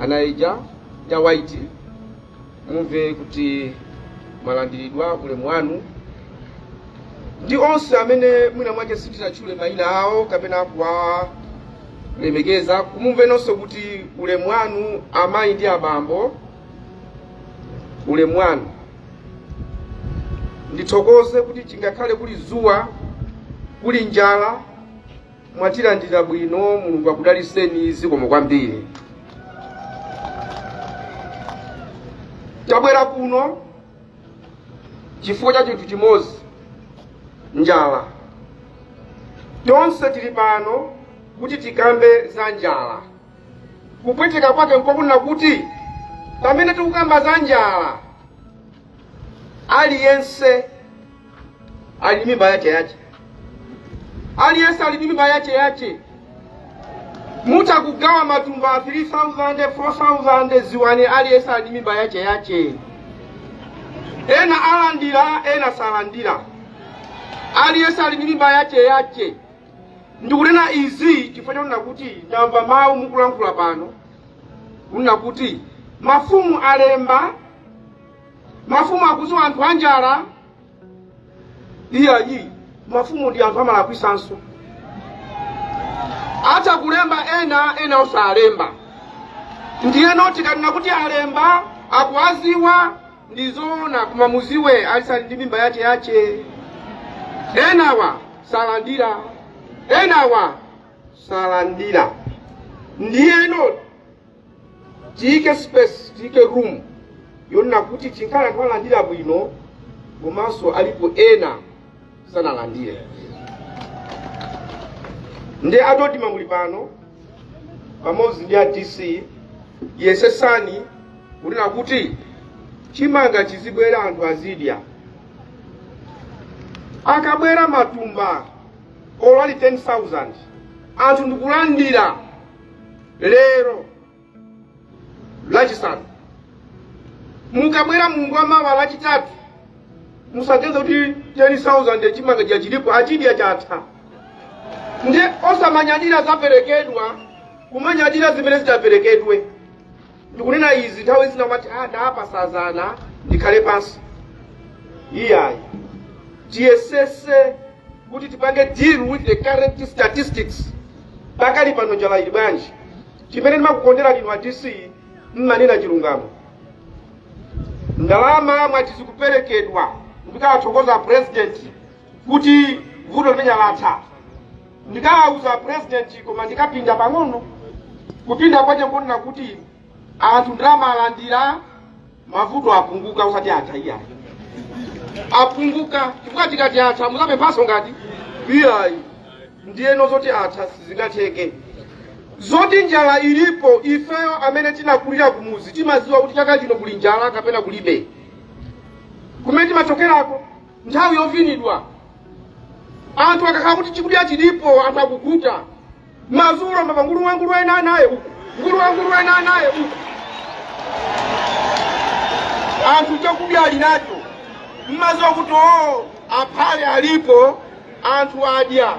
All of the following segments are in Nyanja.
anaija ya white mumve kuti mwalandiridwa ulemu wanu ndi onse amene mwina mwake sindinatchule mayina awo kapena kuwalemekeza mumve nonse kuti ulemu wanu amayi ndi abambo ulemu wanu ndithokoze kuti chingakhale kuli zuwa kuli njala mwatilandira bwino mulungu akudaliseni zikomo kwambiri tabwera kuno chifukwa cha chinthu chimodzi njala tonse tili pano kuti tikambe za njala kupweteka kwake nkokunena kuti pamene tikukamba za njala aliyense ali ndi mimba yace yace aliyense ali ndi mimba yace yace mutha kugawa matumba a 3000 4000 dziwani aliyense ali ndi mimba yace yace ena alandira ena salandira aliyense ali ndi mimba yace yace ndikunena izi chifukwa chonena kuti ndamva mawu mukulankhula pano kunena kuti mafumu alemba mafumu akuziwa anthu anjala iyayi mafumu ndi anthu amalakwisanso atha kulemba ena ena osalemba ndiyeno tikanena kuti alemba akuwaziwa ndi zoona koma muziwe aliyense ali ndi mimba yache yache ena osalandira ena osalandira ndiyeno tiyike space tiyike room yonena kuti chinkhale anthu alandira bwino komanso alipo ena sanalandire ndi a dodma muli pano pamodzi ndi a dc yesesani kunena kuti chimanga chizibwera anthu azidya akabwera matumba olo ali 10000 anthu ndikulandira lero lachisanu mukabwera mulungu wa mawa lachitatu musaganize kuti 10000 chimanga chija chilipo achidya chatha nde osamanyadira zaperekedwa kumanyadira zimene zitaperekedwe ndikunena izi nthawi zina umati ah ndapasa zana ndikhale pansi iyayi tiyesese kuti tipange deal with the current statistics pakali pano njala ili bwanji chimene ndimakukonderani inu a dc mmanena chilungamo ndalama mwati zikuperekedwa ndikawathokoza president kuti vuto limeneli latha ndikawauza purezidenti koma ndikapinda pang'ono kupinda kwake nkunena kuti anthu ndalama alandira mavuto apunguka usati atha iyayi apunguka chifukwa tikati atha muzapemphaso nkuti iyayi ndiyeno zoti atha sizingatheke zoti njala ilipo ifeyo amene tinakulira kumuzi timaziwa kuti chaka chino kuli njala kapena kulibe kumene timachokerako nthawi yovinidwa anthu akakhala kuti chikudya chilipo anthu akukhuta mazulo mumamva gule wamkulu ena anaye uku gule wamkulu ena anaye uku anthu chakudya ali nacho mmaziwa kuti oo aphare alipo anthu adya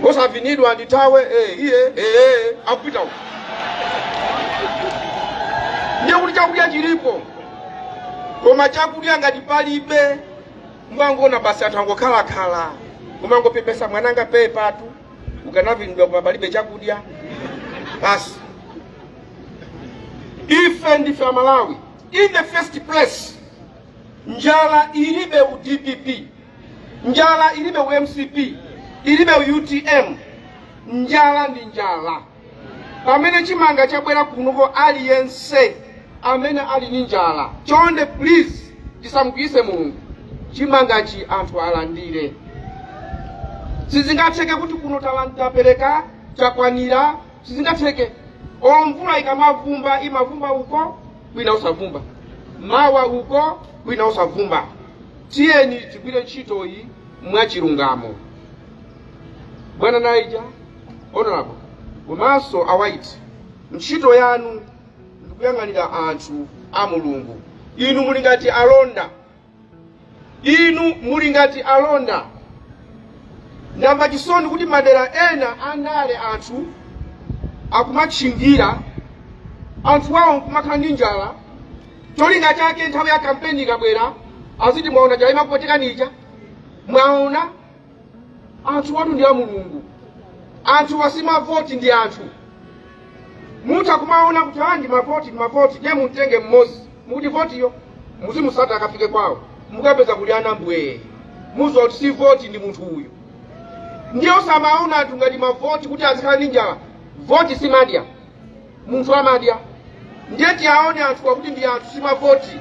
osavinidwa ndi nthawi iyi akupita uko ndiye kuti chakudya chilipo koma chakudya ngati palibe mmangoona basi anthu angokhalakhala kumangopepesa mwananga pepatu ukanavinidwa koma palibe chakudya basi ife ndife amalawi in the first place njala ilibe u dpp njala ilibe u mcp ilibe u utm njala ndi njala pamene chimanga chabwera kunoko aliyense amene ali ndi njala chonde please tisamukwiyitse mulungu chimangachi anthu alandire sizingatheke kuti kuno talan- tapereka chakwanira sizingatheke o mvula ikamavumba imavumba uko kwina osavumba mawa uko kwina osavumba tiyeni tigwire ntchito iyi mwachilungamo bwana naija honorable komanso awaiti ntchito yanu ndi kuyang'anira anthu a mulungu inu muli ngati alonda inu muli ngati alonda ndamva chisoni kuti madera ena andale anthu akumatchingira anthu awo nkumakhala ndi njala cholinga chake nthawi ya kampeni ikabwera aziti mwaona njala imakupwetekani ija mwaona anthuwatu ndi a mulungu anthuwa si mavoti ndi anthu mutha kumaona kuti aa ndi mavoti ndi mavoti ndiye mumtenge mmodzi mukuti votiyo muzimusata akafike kwawo mukapeza kuti ana mbwee muziwa kuti si voti ndi munthu uyu ndiye osamaona anthu ngati mavoti kuti azikhala ndi njala voti simadya munthu amadya ndiye tiaone anthuwa kuti ndi anthu si mavoti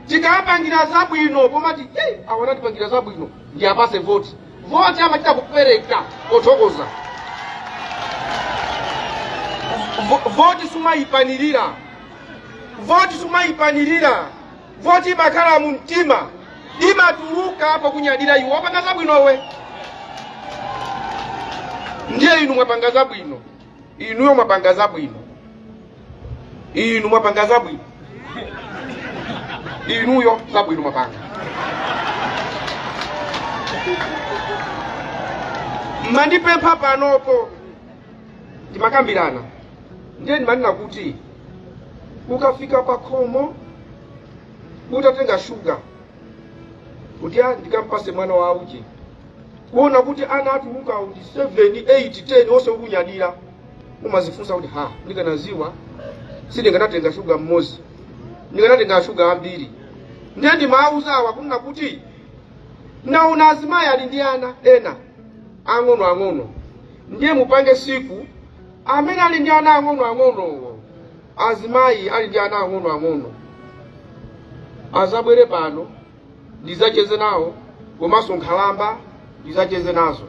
tikawapangira zabwino pomati awa anatipangira zabwino ndi apase voti voti amachita kupereka pothokoza Vo- voti sumayiphanirira voti sumayiphanirira voti imakhala mu mtima imatuluka pokunyadira iwe wapanga zabwinowe ndiye inu mwapanga zabwino inuyo mwapanga zabwino inu mwapanga zabwino inuyo zabwino mwapanga mmandipempha panopo ndimakambirana ndiye ndimanena kuti ukafika pa khomo utatenga shuga kuti a ndikampase mwana wa uje kuona kuti ana atuluka kuti 7 8 10 onse ukunyadira umazifunsa kuti ha ndikanaziwa sindikanatenga shuga mmodzi ndikanatenga shuga ambiri ndiye ndimawuza awa kunena kuti naona azimayi ali ndi ana ena ang'ono ang'ono ndiye mupange siku amene ali ndi ana ang'ono ang'onowo azimayi ali ndi ana ang'onoang'ono azabwere pano ndizacheze nawo komanso nkhalamba ndizacheze nazo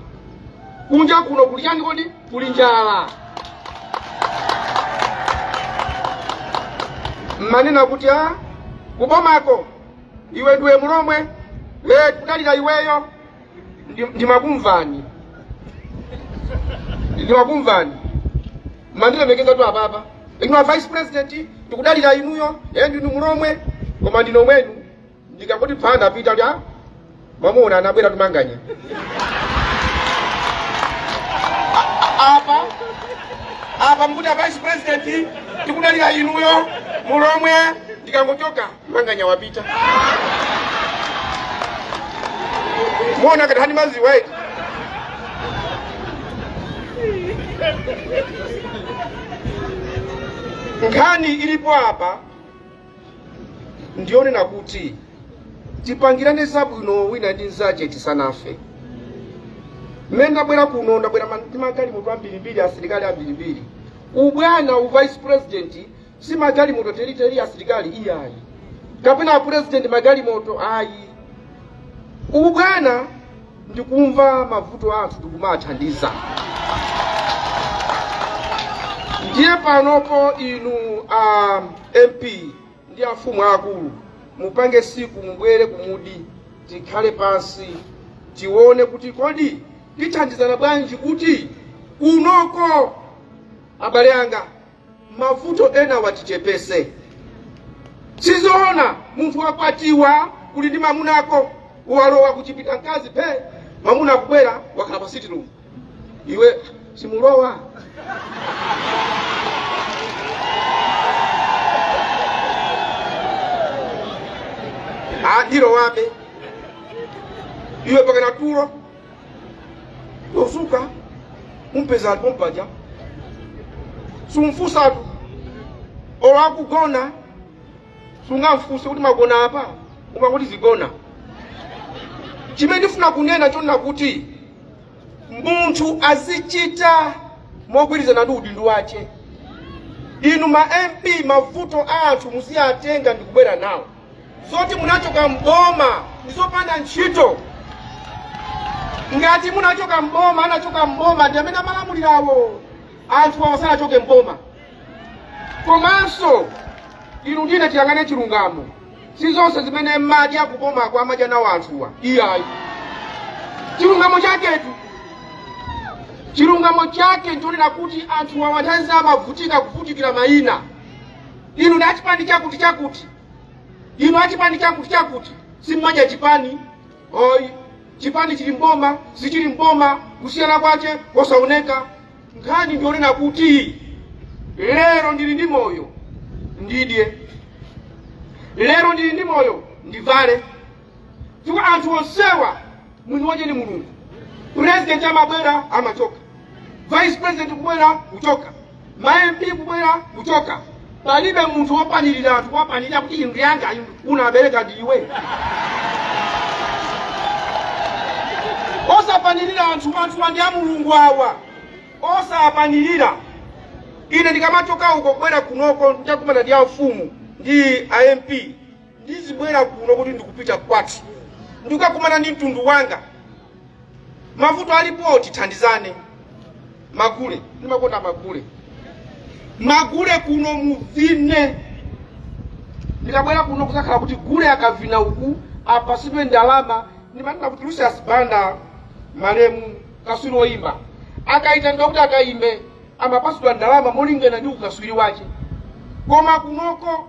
kunja kuno kuli chani kodi kuli njala mmanena kuti a kubomako iwe ndiwe mlomwe e tikudalira iweyo Ndi- ndimakumvani ndimakumvani mandilemekezatu apapa inu a vice president ndikudalira inuyo ee ndinu mulomwe koma ndinomwenu ndikangoti phanda apita kuti a mwamuna anabwera tu Manganya A- a- apa apa mkuti a vice president tikudalira inuyo mulomwe ndikangochoka manganya wapita muona ngati hani maziwatu nkhani ilipo apa ndiyonena kuti tipangirane zabwino wina ndi mzache tisanafe mmene ndabwera kuno ndabwera ma- ndi magalimoto ambirimbiri asilikali ambirimbiri ubwana u vice president si magalimoto teliteli asilikali iyayi kapena apurezidenti magalimoto ayi ubu bwana ndikumva mavuto a anthu ndikumawathandiza ndiye panopo inu a mp ndi afumu akulu mupange siku mubwere kumudzi tikhale pansi tione kuti kodi tithandizana bwanji kuti kunoko abale anga mavuto ena awa tichepese sizoona munthu wakwatiwa uli ndi mamuna ako walowa kuchipinda mkazi phe mamuna akubwera wakhala pa sitting room iwe sumulowa andilowabe iwe pakana tulo kuzuka umpeza alipo pompaja sumfusatu olo akugona sungamfuse kuti magona apa umangoti zigona chimene ndifuna kunena chonena kuti munthu azichita mogwirizana ndi udindo wache inu ma mp mavuto a anthu muziwatenga ndikubwera nawo zoti munachoka mboma ndizopanda ntchito ngati munachoka mboma anachoka mboma ndi amene amalamulirawo anthu awa sanachoke mboma komanso inu ndi ine tiyang'ane chilungamo si zonse zimene mmadya kubomako amadya nawo anthuwa iyayi chilungamo chaketu chilungamo chake nchonena kuti anthu awa nthawi zina amavutika kuvutikira mayina inu ndi achipani chakuti chakuti inu achipani chakuti chakuti simmadya chipani ayi chipani chili mboma sichili mboma kusiyana kwache kosaoneka nkhani ndiyonena kuti lero ndili ndi moyo ndidye lero ndili ndi moyo ndivale chifukwa anthu onsewa mwini wache ni mulungu president amabwera amachoka vice president kubwera kuchoka ma mp kubwera kuchoka palibe munthu wopanirira anthu kuwapanirira kuti ndi anga unabereka ndi iwe osapanirira anthu anthuwa ndi a mulungu awa osapanirira ine ndikamachoka uko kubwera kunoko ndakumana ndi amfumu ndi a mp ndizibwera kuno kuti ndikupita kwathu ndikukakumana ndi mtundu wanga mavuto alipo tithandizane magule ndimakonda magule magule kuno muvine ndikabwera kuno kusakhale kuti gule akavina uku apasidwe ndalama ndimanena kuti lucius banda malemu kaswiri woyimba akayitanidwa kuti akayimbe amapasidwa ndalama molingana ndi ukaswiri wace koma kunoko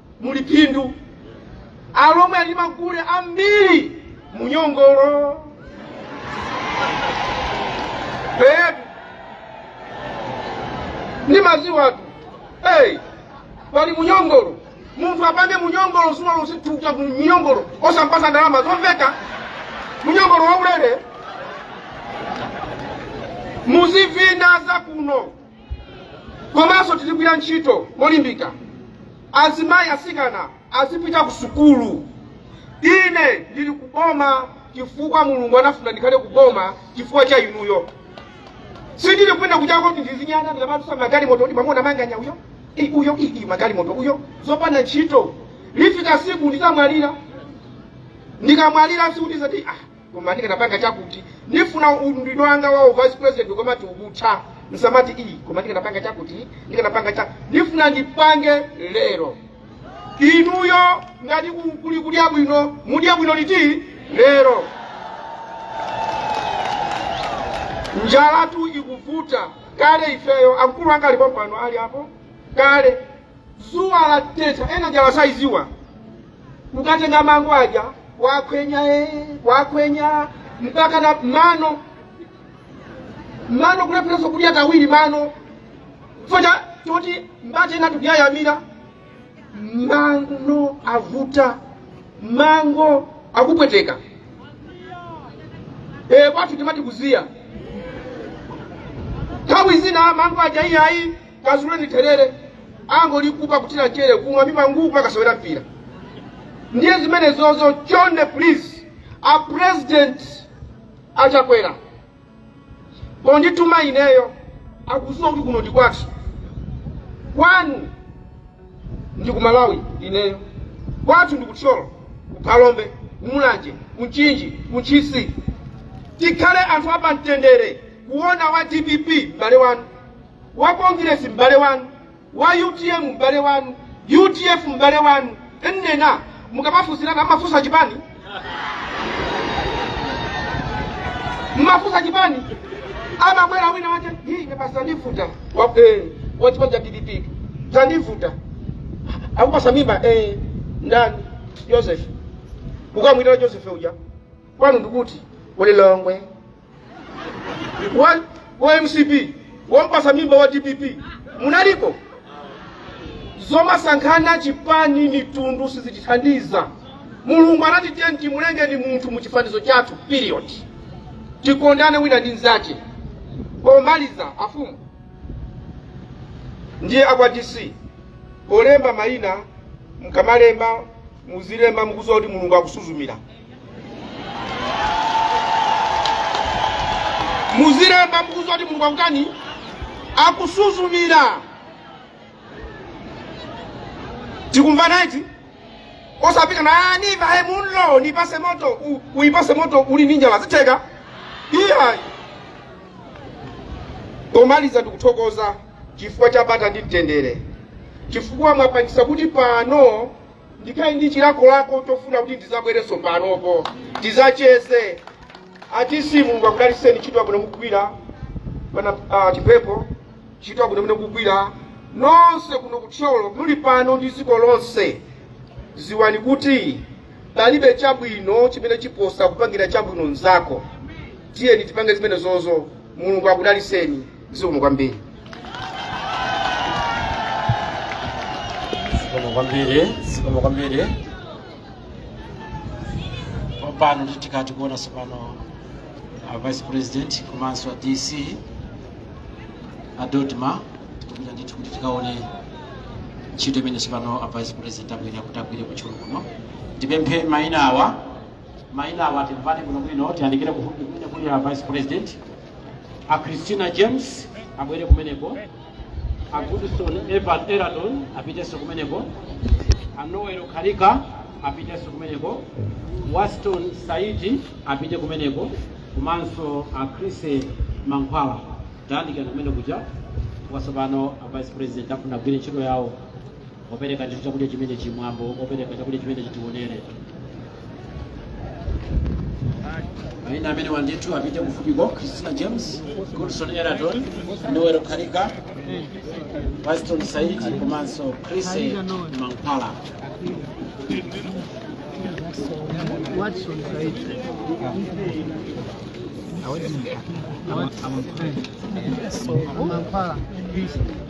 muli phindu alomwe ali ndi magule ambiri munyongolo Eh, ndimaziwatu hey, pali munyongolo munthu apange munyongolo zuwa lonse thukuta munyongolo osampasa ndalama zomveka munyongolo waulere muzivina za kuno komanso tizigwira ntchito molimbika azimayi asikana azipita ku sukulu ine ndili ku boma chifukwa mulungu anafuna ndikhale ku boma chifukwa cha inuyo sindili kuenda kuchako kuti ndizinyana ndamatusa magalimoto kuti mwamuona manganya uyo i uyo i i magalimoto uyo zopanda ntchito lifika siku ndizamwalira ndikamwalira sikuti ndizati ah koma ndikanapanga chakuti ndifuna udindo wanga wa uvice president ukamati ukatha msamati iyi koma ndikanapanga chakuti ndikanapanga cha ndifuna ndipange lero inuyo ngati ku- kuli kudya bwino mudya bwino liti lero njalatu ikuvuta kale ifeyo amkulu anga alipo pano ali apo kale dzuwa latentha enanu njala sayiziwa mukatenga mango aja wakwenya eh, wakwenya mpaka na mano mano kulepheretsa kudya kawiri mano focha choti mbati ena tikuyayamira mano avuta mango akupweteka e, kwathu timati kuziya nthawi zina mango aja iyayi kazuleni therere angolikupa kuthira chere kumwa mimangu mpaka sewera mpira ndiye zimenezozo chonde please a president achakwera pondituma ineyo akuziwa kuti kuno ndi kwathu kwanu ndi ku malawi ineyo kwathu ndi kuthyolo kuphalombe kumulanje kunchinji kuntchisi tikhale anthu apamtendere kuona wa dpp m'bale wanu wa Congress m'bale wanu, wa UTM m'bale wanu, UDF m'bale wanu, nnena mukamafunsirana mmafunsa chipani mmafunsa chipani amabwera wina wake hii basi tandivuta Wa- eh, wa chipani cha dpp tandivuta akupasa mimba eh, ndani joseph ukamwitana joseph uja kwanu ndikuti kulilongwe wa, wa mcp wampasa mimba wa dpp munalipo zomasankhana chipani ndi mtundu sizitithandiza mulungu anati tiyeni timulengeni munthu mu chifanizo chathu period tikondane wina ndi mzache pomaliza afumu ndi akwa dc polemba mayina mkamalemba muzilemba mukuziwa kuti mulungu akusuzumira muzilemba mukuziwa kuti mulungu akutani akusuzumira tikumva eti osapika na ndimvahe Mumlo nipase moto uipase moto uli ni njala zitheka iyayi pomaliza ndikuthokoza chifukwa cha bata ndi mtendere chifukwa mwapangisa kuti pano ndikhale ndi chilakolako chofuna kuti ndizabwerenso panopo tizacheze Atisi mulungu akudaliseni ntchito yabwino mukugwira pa chipepo ntchito yabwino mene mukugwira nonse kuno kuthyolo muli pano ndi dziko lonse ziwani kuti palibe chabwino chimene chiposa kupangira chabwino mnzako tiyeni tipange zimenezozo mulungu akudaliseni zikomo kwambiri zikomo kwambiri zikomo kwambiri pano tikutha kuona sopano a vice president komanso a dc a dodma tikupita ndithu kuti tikaone ntchito imene sopano a vice president akuyenera kuti agwire kuthyolo kuno tipemphe mayina awa mayina awa timvane bwinobwino tiyandikire kufupi kumene kuli a vice president a christina james abwere kumeneko a goodson evan eraton apitenso kumeneko a noel kalika apitenso kumeneko waston saidi apite kumeneko komanso a chrissy mankhwala tayandikirani kumene kuja kwasopano a vice president afuna agwire ntchito yawo opereka ndithu chakudya chimene chimwambo opereka chakudya chimene chitionere maina amenewa ndithu apite kufupiko christina james goodson eraton noel kalika waston saidi komanso chrissy mankhwala Waston Saidi. Mankhwala.